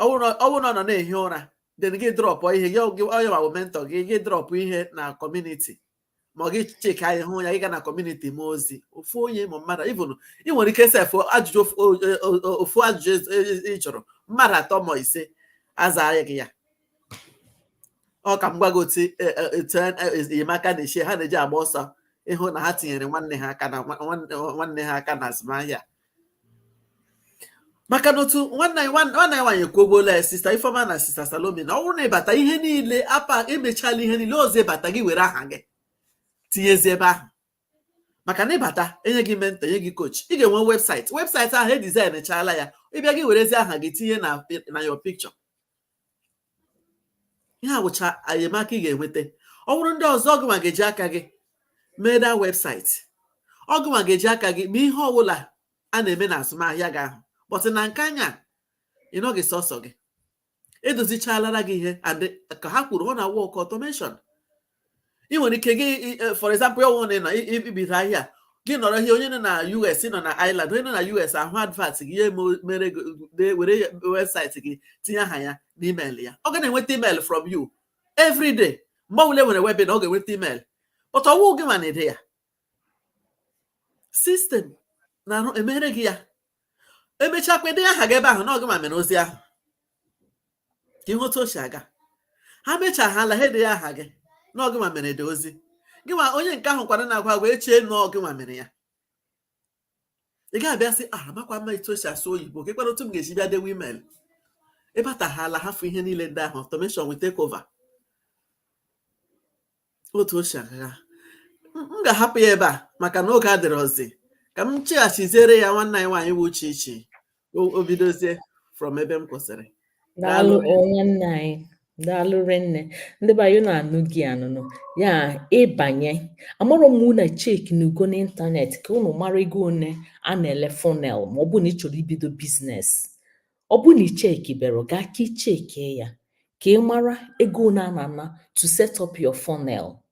ọ bụrụ na ọ nọ na-ehi ụra then gị drọpụ ihe gị onye ma bụ mentọ gị gị drọpụ ihe na kọmuniti ma ọ gị cheka ya hụ ya ị gaa na kọmuniti m ozi ofu onye ma mmadụ even ị nwere ike sef ajụjụ ofu ajụjụ e, e, e, ị jụrụ mmadụ atọ ma ise aza gị ya ọ ka m gwa gị otu etu enyemaka na-echi ha na-eji agba ọsọ ịhụ na ha tinyere nwanne ha aka na nwanne ha aka na azụmahịa maka na otu nwanne anyị nwanne anyị nwaanyị ekwubuola ya sista ifeoma na sista salome na ọ bụrụ na ị bata ihe niile apa e mechala ihe niile ọzị ị bata gị were aha gị tinyezi ebe ahụ maka na ị bata e nye gị mentọ e nye gị kochi ị ga-enwe webụsaịtị webụsaịtị ahụ e dizaịn chaala ya ị bịa gị werezi aha gị tinye na na your picture ihe a bụcha enyemaka ị ga-enweta ọ bụrụ ndị ọzọ ọ gịnwa ga-eji aka gị mee the webụsaịtị ọ gịnwa ga-eji aka gị mee ihe ọbụla a na-eme na azụmahịa gị ahụ but na nke anyị a ị nọghị sọsọ gị e dozichalara gị ihe and ka ha kwuru ọ na-work ọtọmeshọn ị nwere ike gị e, for example ọ wụ na ị bido ahịa gị nọrọ here onye nọ na US ị nọ na Ireland onye nọ na US ahụ advert gị ya mere were webụsaịtị gị tinye aha ya na email ya ọ ga na-enweta email from you every day mgbe ọbụla e nwere webinar ọ ga-enweta email but ọ wụghị gịnwa na-ede ya system na-arụ emere gị ya emechaakwa ede aha gị ebe ahụ na ọ gịnwa mere ozi ahụ ka ị hụ otu o si aga ha mechaahala ha ede ya aha gị na ọ gịnwa mere ede ozi gịnwa onye nke ahụ kwara na-agwa agwa echee na ọ gịnwa mere ya ị ga-abịa sị ah amakwa m etu esi asụ oyibo kee kwara otu m ga-eji bịa dewe email ị batahala hafụ ihe niile ndị ahụ automation will take over otu o si aga m ga-ahapụ ya ebe a maka na oge adịrọzi ka m cheghachiziere ya nwanne anyị nwaanyị bụ chichi o bidozie from ebe m kwụsịrị daalụ nwanne anyị daalụ rinne ndị be anyị na-anụ gị anụnụ ya ịbanye amarọ m ma ụnụ echekinugo n'ịntanetị ka ụnụ mara ego one a na-ele funnel ma ọ bụ na ị chọrọ ibido business ọ bụ na ị chekiberọ gaa ka ị cheki ya ka ị mara ego one a na-ana to set up your funnel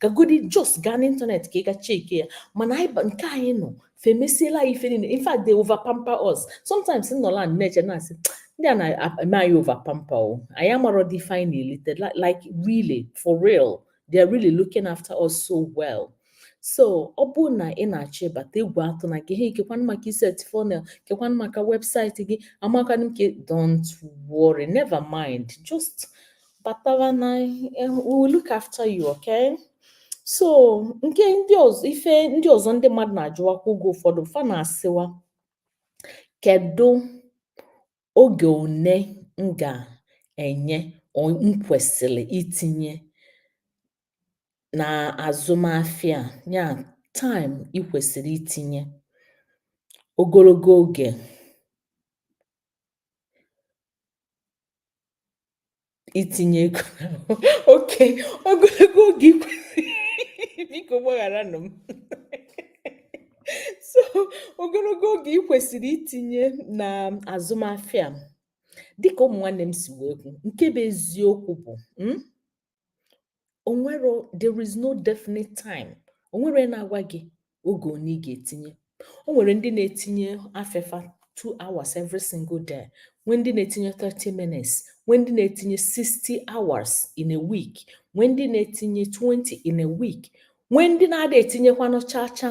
gagodi just gaa n'internet ka ị ga cheki ya mana anyị ba- nke anyị nọ fa emesiela anyị ife niile in fact they over pamper us sometimes m nọla m na-eche na-asị ndị a na-eme anyị over pamper o anyị amarọdị ife niile li- like really for real they are really looking after us so well so ọ bụ na ị na-achọ ịbata egwu atụna gị hei kekwanụ maka ị set funnel kekwanụ maka website gị amakwanụ m ka don't worry never mind just batawa na we will look after you okay so nke ndị ọzọ ife ndị ọzọ ndị mmadụ na-ajụwakwa oge ụfọdụ fa na-asịwa kedu oge one m ga-enye m kwesịrị itinye na azụmafịa ya time ị kwesịrị itinye ogologo oge itinye ego okay ogologo oge biko gbagharanụ m so ogologo oge ị kwesịrị itinye na azụmafịa dịka ụmụ nwanne m si wee kwu nke bụ eziokwu bụ hmm, o nwerọ there is no definite time o nwerọ onye na-agwa gị oge one ị ga-etinye o nwere ndị na-etinye afefa two hours every single day nwee ndị na-etinye 30 minutes nwee ndị na-etinye 60 hours in a week nwee ndị na-etinye 20 in a week nwee ndị na-ada etinyekwanụ chacha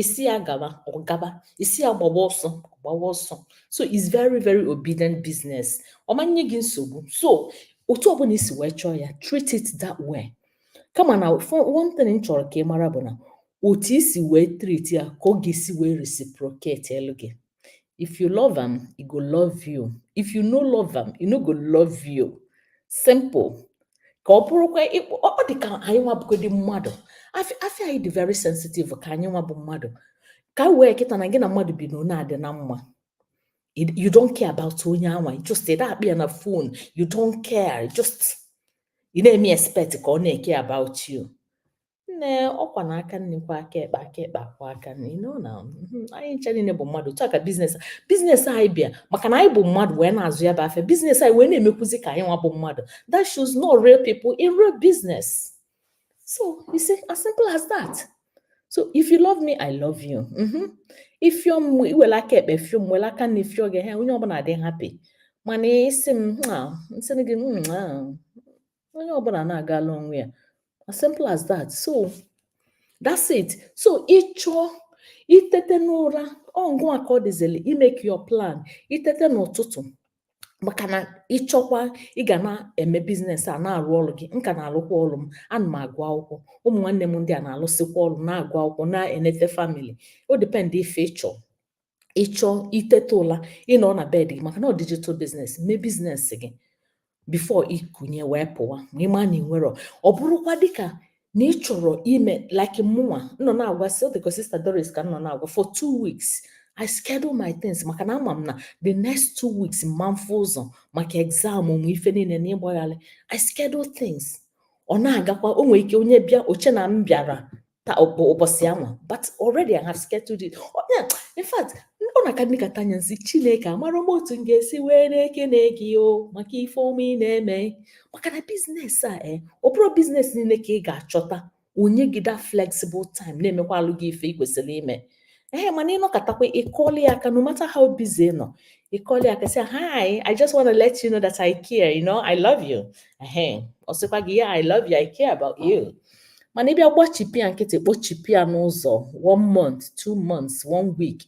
ị sị ya gaba ọ gaba ị sị ya gbaba ọsọ ọ gbaba ọsọ so it's very very obedient business ọ ma nye gị nsogbu so otu ọbụla i si wee chọọ ya treat it that way kama na one thing m chọrọ ka ị mara bụ na otu i si wee treat ya ka ọ ga-esi wee reciprocate elu gị if you love am e go love you if you no love am e no go love you simple ka ọ bụrụkwa ọ dị ka anyị nwa bụgodị mmadụ afịa afịa anyị dị very sensitive ka anyị nwa bụ mmadụ ka wee kịta na gị na mmadụ bi na ọ na-adị na mma you don't care about onye anwa you just ị na-akpị ya na phone you don't care you just ị na-eme expect ka ọ na-eke about you nne ọkwa na aka nni kwọ aka ekpe aka ekpe akwọ aka nni no na mhm, anyị ncha niile bụ mmadụ otu a ka biznes biznes anyị bịa maka na anyị bụ mmadụ wee na-azụ ya bụ afịa biznes anyị wee na-emekwuzi ka anyị nwa bụ mmadụ that shows no real people in real business so you see as simple as that so if you love me i love you mhm. ifio m iwere aka ekpe fio m were aka nni fio gị ha onye ọbụla dị happy mana ị sị m nsị gị onye ọbụla na-agala onwe ya as simple as that so that's it so ịchọ itete n'ụra ọ ngụwa ka ọ dịzili imeke your plan itete n'ụtụtụ maka na ịchọkwa ị ga na-eme biznes a na-arụ ọrụ gị m ka na-alụkwa ọrụ m ana m agụ akwụkwọ ụmụ nwanne m ndị a na-alụsịkwa ọrụ na-agụ akwụkwọ na-enete family o depend ife ịchọ ịchọ iteta ụla ịnọ na bed gị maka na ọ digital business mee biznes gị before ikunie wee pụwa ma ịma na ị nwerọ ọ bụrụkwa dịka na ị chọrọ ime like mụnwa nọ na-agwa si dịka sister Doris ka nọ na-agwa for two weeks I schedule my things maka na ama m na the next two weeks mma afụ ụzọ maka exam ụmụ ife niile na ịgbagharị I schedule things ọ na-agakwa o nwere ike onye bịa o chee na m bịara taa ọ bụ ụbọchị anwa but already I have scheduled it in fact ọ na-aka ndị ka tanya nsị chineke amarọ m otu m ga-esi wee na-ekene gị o maka ife ọma ị na-eme maka na biznes a e ọ bụrọ biznes niile ka ị ga-achọta o nye gị that flexible time na-emekwalụ gị ife ị kwesịrị ime ee mana ịnọkatakwa ịkọli ya aka no matter how busy ị nọ ịkọli ya aka sị hi i just want to let you know that i care you know i love you ehe ọ sịkwa gị ya i love you i care about you mana ịbịa gbachipụ ya nkịtị kpochipụ ya n'ụzọ one month two months one week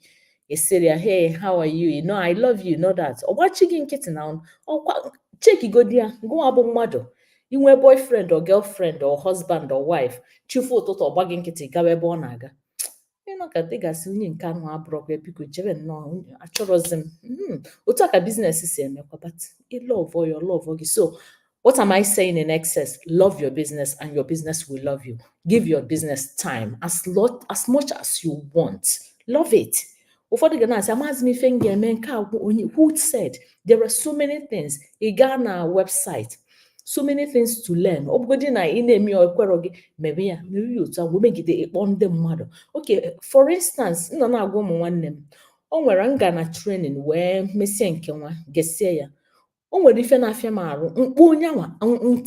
ị sịrị ya hey how are you you know i love you know that ọ gbachi gị nkịtị na ọkwa chekigodi ya gụwa bụ mmadụ inwe boyfriend or girlfriend or husband or wife chi fo ụtụtụ ọ gba gị nkịtị gawa ebe ọ na-aga ịnọkata ị ga-asị onye nke ahụ abụrọkwa ya biko jebe nnọọ achọrọzi m hmm, otu a ka biznes si emekwa but ịlọvọ ya ọlọvọ gị so what am i saying in excess love your business and your business will love you give your business time as lot as much as you want love it ụfọdụ ga na-asị amaghịzi m ife m ga-eme nke a who said there are so many things ị gaa na website so many things to learn ọ bụgodị na ị na-eme ya ekwerọ gị mebe ya mere ya otu a wee megide ị kpọọ ndị mmadụ okay for instance m nọ na-agwa ụmụ nwanne m o nwere m ga na training wee mesie nke nwa gesie ya o nwere ife na-afịa m arụ m kpọọ onye nwa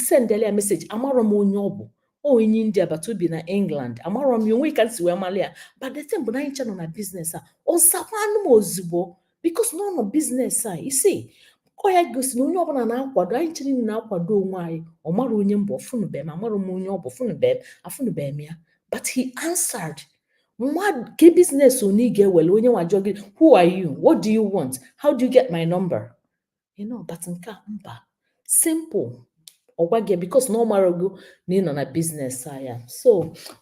sendele ya message amarọ m onye ọ bụ onye India but o bi na England amarọ m ya onwe ka m si wee mara ya but the thing bụ na anyị ncha nọ na business a ọ zakwanụ m ozugbo because na ọ nọ business a you see ọ ya gosi na onye ọbụla na-akwado anyị chere na na-akwado onwe anyị ọ mara onye m bụ ọ fụnụbe m amarọ m onye ọ bụ fụnụbe m afụnụbe m ya but he answered mmadụ ke business onye ị ga-ewere onye nwa jụọ gị who are you what do you want how do you get my number you know but nke a mba simple ọ gwa gị because na ọ marago na ị nọ na business a ya so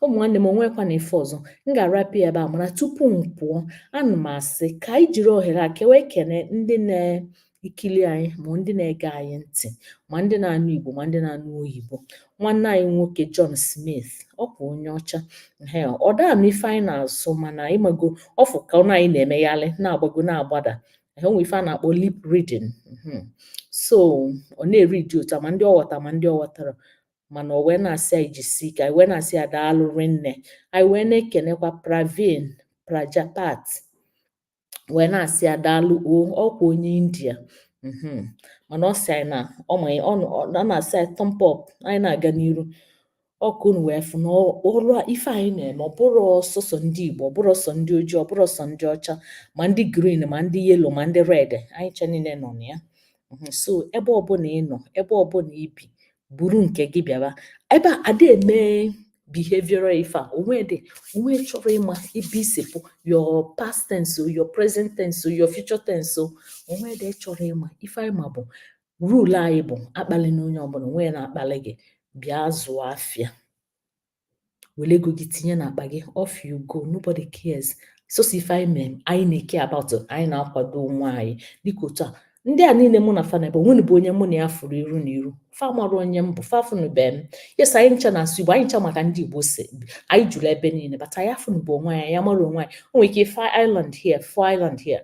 ụmụ nwanne m o nwekwanụ ife ọzọ m ga-arapụ ya ebe a mana tupu m pụọ ana m asị ka anyị jiri ohere a ka wee kene ndị na-ekili anyị ma ndị na-ege anyị ntị ma ndị na-anụ igbo ma ndị na-anụ oyibo nwanne anyị nwoke John Smith ọkwa onye ọcha ọ da-anụ ife anyị na-asụ mana ị mago ọ fụ ka ọnụ anyị na-emegharị na-agbago na-agbada e nwe ife a na-akpọ lip reading mhm. so ọ na-eridi otu a ma ndị ọ ghọta ma ndị ọ ghọtara mana o wee na-asị anyị jisi ike anyị wee na-asị ya daalụ rinne anyị wee na-ekenekwa Praveen Prajapat wee na-asị ya daalụ o ọkwa onye India mhm. mana ọ sị anyị na ọ na-asị anyị thumb up anyị na-aga n'iru ọ ka unu wee fụ na ọrụ ife anyị na-eme ọ bụrọ sọsọ ndị Igbo ọ bụrọ sọ ndị ojii ọ bụrọ sọ ndị ọcha ma ndị green ma ndị yellow ma ndị red anyị ncha niile nọ na ya mhm, so ebe ọbụla ị nọ ebe ọbụla i bi buru nke gị bịaba ebe a ada eme behavioral ife a onwe dị onye chọrọ ịma ebe i si pụ your past tense your present tense your future tense onwe dị chọrọ ịma ife anyị ma bụ rule anyị bụ akpalina onye ọbụla onwe ya na-akpali gị bịa zụọ afịa were ego gị tinye n'akpa gị off you go nobody cares sọsọ ife anyị mere anyị na-ecare about anyị na-akwado onwe anyị dịka otu a ndị a niile mụ na fa nọ ebe a o nwerọ bụ onye mụ na ya fụrụ iru na iru fa mara onye m bụ fa fụnụbe m yes anyị ncha na-asụ igbo anyị ncha maka ndị igbo si anyị juru ebe niile but anyị afụnụbe onwe anyị anyị amarọ onwe anyị o nwere ike ị fụ island here fụ island here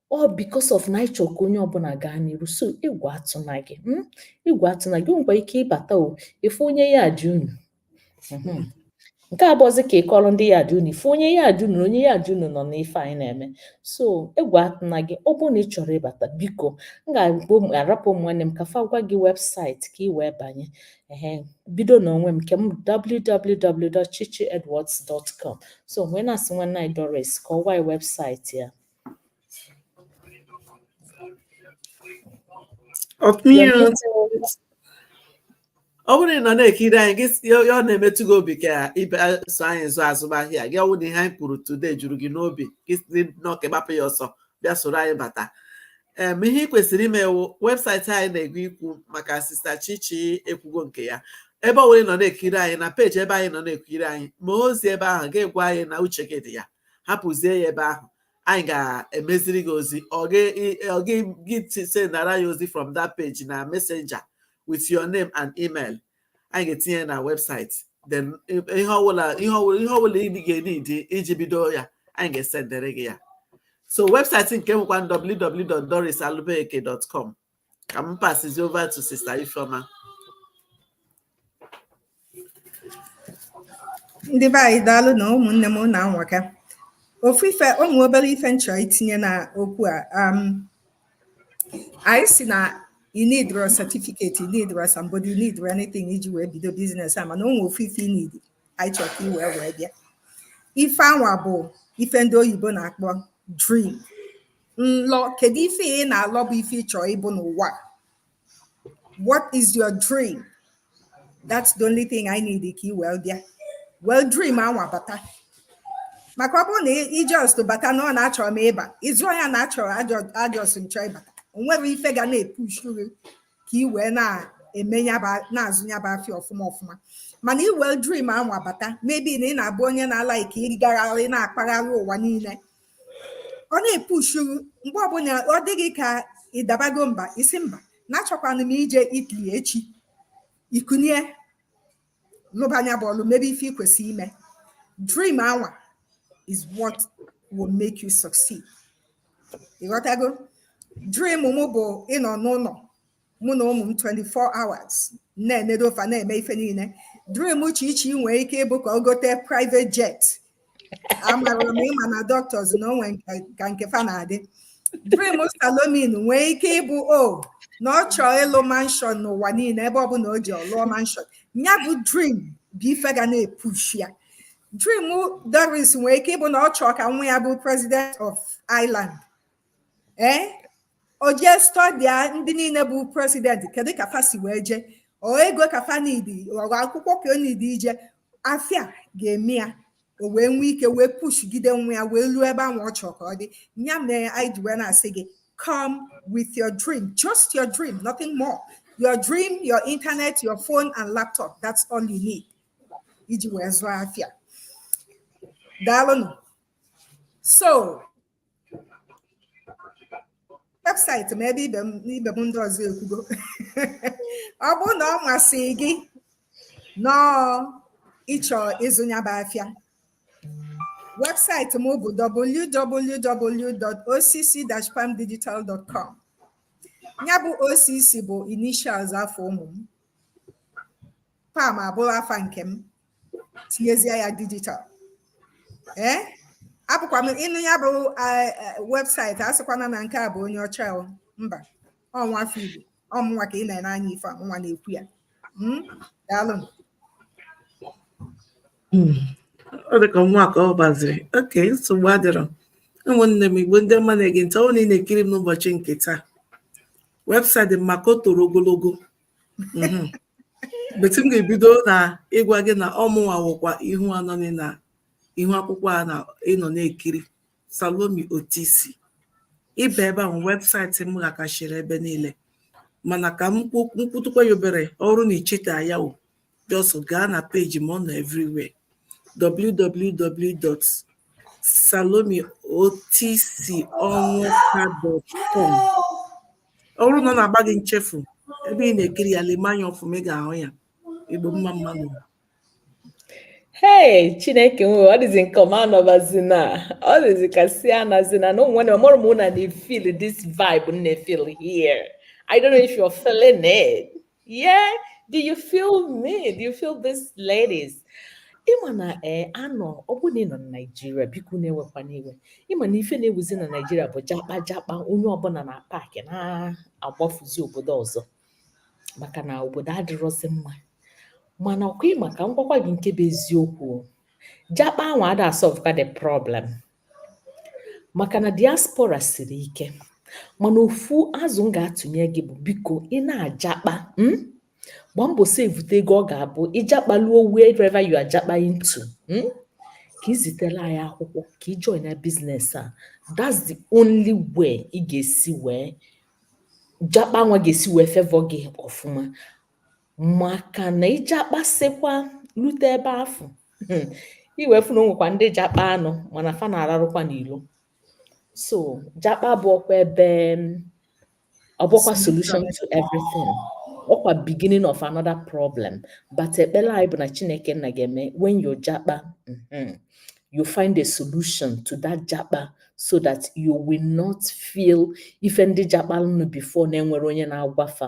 ọ because of na ịchọ ka onye ọbụla gaa n'iru so egwu atụna gị hmm? egwu atụna gị nwekwa ike ịbata ị fụ onye yard unu hmm. nke a bụzi ka ị kọrọ ndị yard unu ị fụ onye yard unu onye yard unu nọ n'ife anyị na-eme so egwu atụna gị ọ bụrụ na ị chọrọ ịbata biko m ga-arapụ ụmụ nwanne m ka fa gwa gị website ka ị wee banye ehe bido n'onwe m nke m www.chichiedwards.com so wee na-asị nwanne anyị Doris ka ọ gwa website ya ọ bụrụ na ị nọ na-ekiri anyị gị si- ya ọ na-emetụ gị obi ka ị bịa so anyị zụọ azụmahịa gị ọ wụ na ihe anyị kwuru today juru gị n'obi gị si nnọọ ka ị gbapụ ya ọsọ bịa soro anyị bata em ihe ị kwesịrị ime wụ webụsaịtị anyị na-aga ikwu maka sista chichi ekwugo nke ya ebe ọ bụla ị nọ na-ekiri anyị na peji ebe ahụ ị nọ na-ekiri anyị ma ozi ebe ahụ ga-egwa anyị na uche gị dị ya hapụzie ya ebe ahụ anyị ga-emeziri gị ozi or gị sendara ya ozi from that page na messenger with your name and email anyị ga-etinye na website then ihe ọbụla ị ga-enidi iji bido ya anyị ga-esendere gị ya so webụsaịtị nke m wụkwa www.dorisalubeke.com ka m pasizi over to sister Ifeoma ndị be anyị daalụnụ ụmụnne m unu anwaka ofu ife ụmụ obere ife m chọ itinye na okwu a um, anyị si na ị nidirọ certificate ị nidirọ somebody ị nidirọ anything iji wee bido biznes a mana o nwee ofu ife ị need anyị chọrọ ka i wee wee bịa ife anwa bụ ife ndị oyibo na-akpọ dream nlọ kedu ife ị na-alọ bụ ife ị chọ ịbụ n'ụwa what is your dream that's the only thing ị need ka i wee bịa welu dream anwa bata maka ọ bụrụ na ị just bata na ọ na achọrọ m ịba ịzụ ya na achọrọ a just m chọ ịbata o nwerọ ife ga na-epushu gị ka ị wee na-eme na-azụ ya bụ afịa ọfụma ọfụma mana i welu dream anwa bata maybe na ị na-abụ onye na-alaịkị ịgagharị na-akpagharị ụwa niile ọ na-epushu gị mgbe ọbụla ọ dị gị ka ị dabago mba ị sị mba na achọkwanụ m ije Italy echi i kunie lụba nya bụ ọlụ mebe ife ị kwesịrị ime dream anwa is what will make you succeed ị ghọtago dream mụ bụ ịnọ n'ụnọ mụ na ụmụ m 24 hours na-enedo fa na-eme ife niile dream chichi nwee ike ịbụ ka ọ gote private jet amarọ m ị ma na doctors na-enwe ka nke fa na-adị dream salome nwee ike ịbụ o oh, na ọ chọọ ịlụ manshọn n'ụwa niile ebe ọ bụla o jee ọ lụọ manshọn ya bụ dream bụ ife ga na-epushi ya dream doris nwee ike ịbụ na ọ chọọ ka nwa ya bụ president of Ireland ee eh? o jee stọdia ndị niile bụ presidenti kedu ka fa si wee jee ọ ego ka fa nidi ọ akwụkwọ ka o nidi ije afịa ga-eme ya o wee nwee ike wee pushigide nwa ya wee luo ebe ahụ ọ chọrọ ka ọ dị ya mere anyị ji wee na-asị gị come with your dream just your dream nothing more your dream your internet your phone and laptop that's all you need iji wee zụọ afịa daalụnụ so webụsaịtị m ebe ibe m ndị ọzọ ekwugo ọ bụrụ na ọ masị gị nọọ ịchọ ịzụ nya bụ afịa webụsaịtị m bụ www.occ-palmdigital.com ya bụ OCC bụ initials afa ụmụ m Palm abụrụ afa nke m tinyezie ya dijital ee abụkwa m ị nụ ya bụ webụsaịtị asịkwana na nke a bụ onye ọcha mba ọ nwa afọ igbo ọ mụnwa ka ị na-ene anya ife ọ mụnwa na-ekwu ya hmm? daalụ hmm. ọ dịka nwa ka ọ gbaziri okay nsogbu adịrọ ụmụnne m igbo ndị ọma na-ege ntị ọ na ị na-ekiri m n'ụbọchị nke taa webụsaịtị maka o toro ogologo mhm. but m ga-ebido na ịgwa gị na ọ mụnwa wụkwa ihu a nọ na ihu akwụkwọ a na ị nọ na-ekiri Salome Otisi ị bịa ebe ahụ webụsaịtị m ghakachiri ebe niile mana ka m kwutụkwa ya obere ọ bụrụ na i cheta ya just gaa na peji m ọ nọ everywhere www.salomeotisionwuka.com ọ bụrụ na ọ na-agba gị nchefu ebe ị na-ekiri ya lema anya ọfụma ị ga-ahụ ya igbo mma mma nụ Hey, Chineke nwe ọ dịzi nke ọma anọbazi na ọ dịzi ka si anazi na na onwe na ọmụrụ m na na-efeel this vibe m na-efeel here. I don't know if you're feeling it. Yeah, do you feel me? Do you feel this, ladies? ị ma na ee eh, anọ ọ bụrụ na ị nọ na naijiria biko nụ ewekwana iwe ị ma na ife na-ewuzi na naijiria bụ jakpa jakpa onye ọbụla na-apaakị na-agbafuzi obodo ọzọ maka na obodo adịrọzi mma mana ọkwa ị ma ka m gwakwa gị nke bụ eziokwu jakpa ahụ ada asolvekwa the problem maka na diaspora siri ike mana ofu azụ m ga-atụnye gị bụ biko ị na-ajakpa um gbaa mbọ sevute ego ọ ga-abụ ị jakpaluo wherever you are jakpaing to um ka ị zitere anyị akwụkwọ ka ị join na biznes a that's the only way ị ga-esi wee jakpa nwa ga-esi wee favour gị ọfụma maka na ị jakpasịkwa lute ebe afụ hmm, ị wee fụ na o nwekwa ndị jakpa nụ mana fa na-ararụkwa n'ilo so jakpa abụrọkwa ebe ọ bụkwa solution to everything ọkwa beginning of another problem but ekpele anyị bụ na chineke nna ga-eme when you jakpa hmm, you find a solution to that jakpa so that you will not feel ife ndị jakpa nụ before na-enwerọ onye na-agwa fa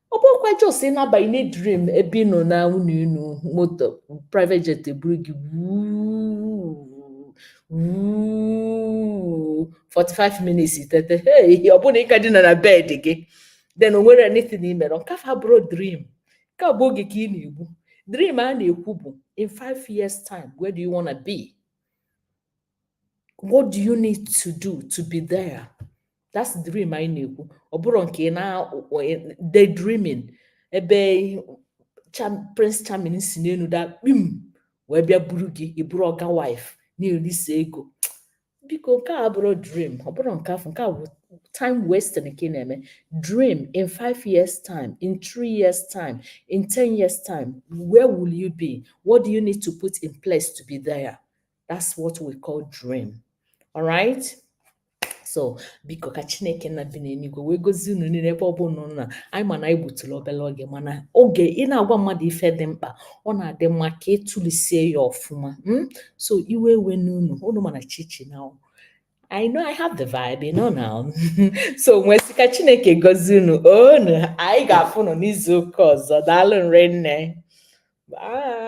ọ bụkwa just ịnabanye na dream ebe ị nọ na ụnọ enu moto private jet eburu gị wuu 45 minutes itete hey ọ bụrụ na ị ka dina na bed gị then o nwere anything i mere nke afụ abụrọ dream nke a bụ oge ka ị na-egbu dream a na-ekwu bụ in five years time where do you wanna be what do you need to do to be there that's the dream anyị na-ekwu ọ bụrọ nke na daydreaming ebe prince charming si n'enu da kpim wee bịa buru gị ị bụrụ ọga wife na-elisi ego biko nke a abụrọ dream ọ bụrọ nke afụ nke a bụ time wasting nke na-eme dream in five years time in three years time in ten years time where will you be what do you need to put in place to be there that's what we call dream all right so biko ka chineke nna bi n'enuigwe wee gozie unu niine ebe ọbụna unu nọ anyị ma na anyị gbutụlụ obele oge mana oge ị na-agwa mmadụ ife dị mkpa ọ na-adị mma ka i tulesie ya ọfụma hmm? so iwe ewena unu unu ma na chichi now I know I have the vibe, you know now. so m wee sị ka Chineke gozie unu onu anyị ga-afụ nụ n'izu ụka ọzọ daalụ nụ rinne bye